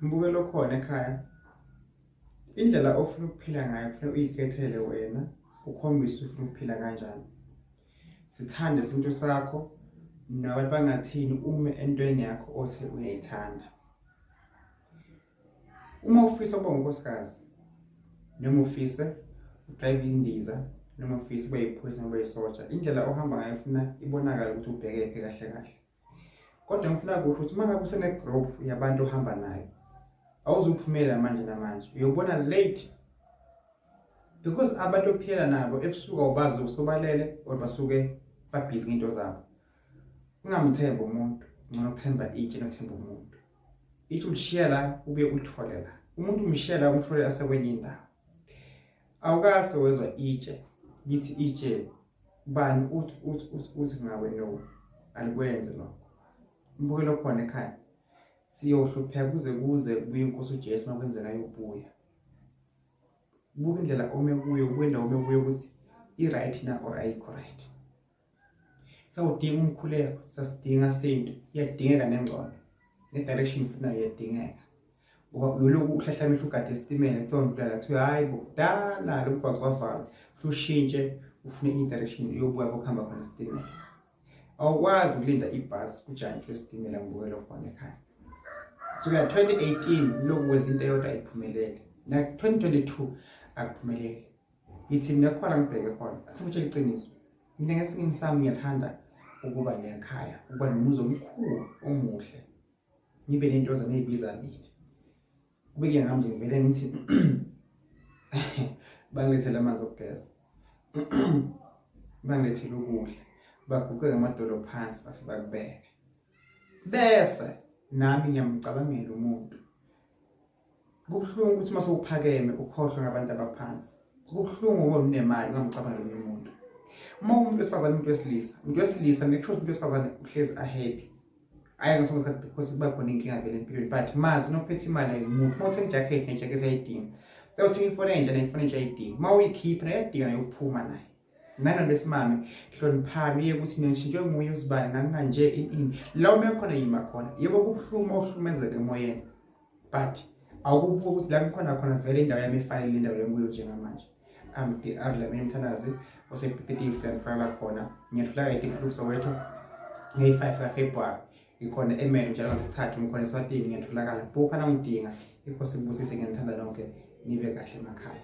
Mbukelo okhona ekhaya indlela ofuna ukuphila ngayo kufanele uyikhethele wena ukhombise ufuna ukuphila kanjani sithande isintu sakho nabantu bangathini ume entweni yakho othe uyayithanda uma ufisa ukuba unkosikazi noma ufise udrayive indiza noma ufisa ube yiphoyisa noma isotsha indlela ohamba ngayo ufuna ibonakala ukuthi ubheke phi kahle kahle kodwa ngifuna kusho ukuthi uma ngabe usene-group yabantu ohamba nayo awuzuphumela manje namanje uyobona late because abantu ophila nabo ebusuku awubazi usobalele or basuke babhizi ngento zabo ungamthembi umuntu ngcono ukuthemba itshe nothemba umuntu itshe ulishiya la ubuye ulithole la umuntu umshiya la umthole asekwenye indawo awukase wezwa itshe lithi itshe bani uthi uthi uthi uthi ngawe no alikwenze lokho umbukelo khona ekhaya siyohlupheka kuze kuze kubuye inkosi uJesu makwenzeka yobuya buka indlela ome kuyo buka indawo ome kuyo ukuthi i-right na or ayikho right sawudinga umkhuleko sasidinga sintu iyadingeka nengcono ne-direction ifunayo iyadingeka ngoba uyolokhu uhlahla amehlo ugade esitimela kusewondlala kuthiwe hhayi bo kudala lo mgwaqo wavalwa futhi ushintshe ufune enye direction uyobuya kokuhamba khona esitimela awukwazi ukulinda ibhasi ujantshwe esitimela ngibukela khona ekhaya suka 2018 lokhu kwenza into eyodwa ayiphumelele na-2022 akuphumeleli Yithi mina khona ngibheke khona. Sikutshela iqiniso. Mina ngesinye sami ngiyathanda ukuba nekhaya, ukuba nomuzi omkhulu omuhle. Ngibe nento zami ezibiza mina. Kube ke ngami nje ngivele ngithi bangilethele amanzi okugeza. Bangilethele ukudla. Baguqe ngamadolo phansi bafike bakubeke. Bese nami ngiyamcabangela umuntu Kubuhlungu ukuthi uma sewuphakeme ukhohlwe ngabantu abaphansi. Kubuhlungu uma unemali ungamcabanga omunye umuntu. Uma umuntu wesifazane umuntu wesilisa, umuntu wesilisa make sure umuntu wesifazane uhlezi ahappy. Ayi ngasonke isikhathi because kuba khona inkinga vele empilweni but mazi unophethe imali ayimuntu. Uma uthenga ijakhethi nejakhethi ayidingi. Uyothenga ifoni entsha nefoni entsha ayidingi. Uma uyikhipha nayo iyadinga nayo ukuphuma nayo. nana besimame hloniphani uye ukuthi mina ngishintshwe nguye uzibani ngangikanje ini la uma khona yima khona yebo kubuhluma uhlumezeke emoyeni but awukubuka ukuthi la ngikhona khona vele indawo yami efanele indawo lenguyo njengamanje amdlamini mthandazi osepititifu la ngihlala khona ngiyadlula kayiti mhluku soweto ngeyi-five kafebruwari ngikhona emelo njalo ngesithathu ngikhona eswatini ngiyatholakala bukha nangidinga ikho sikubusise ngiyanithanda nonke nibe kahle emakhaya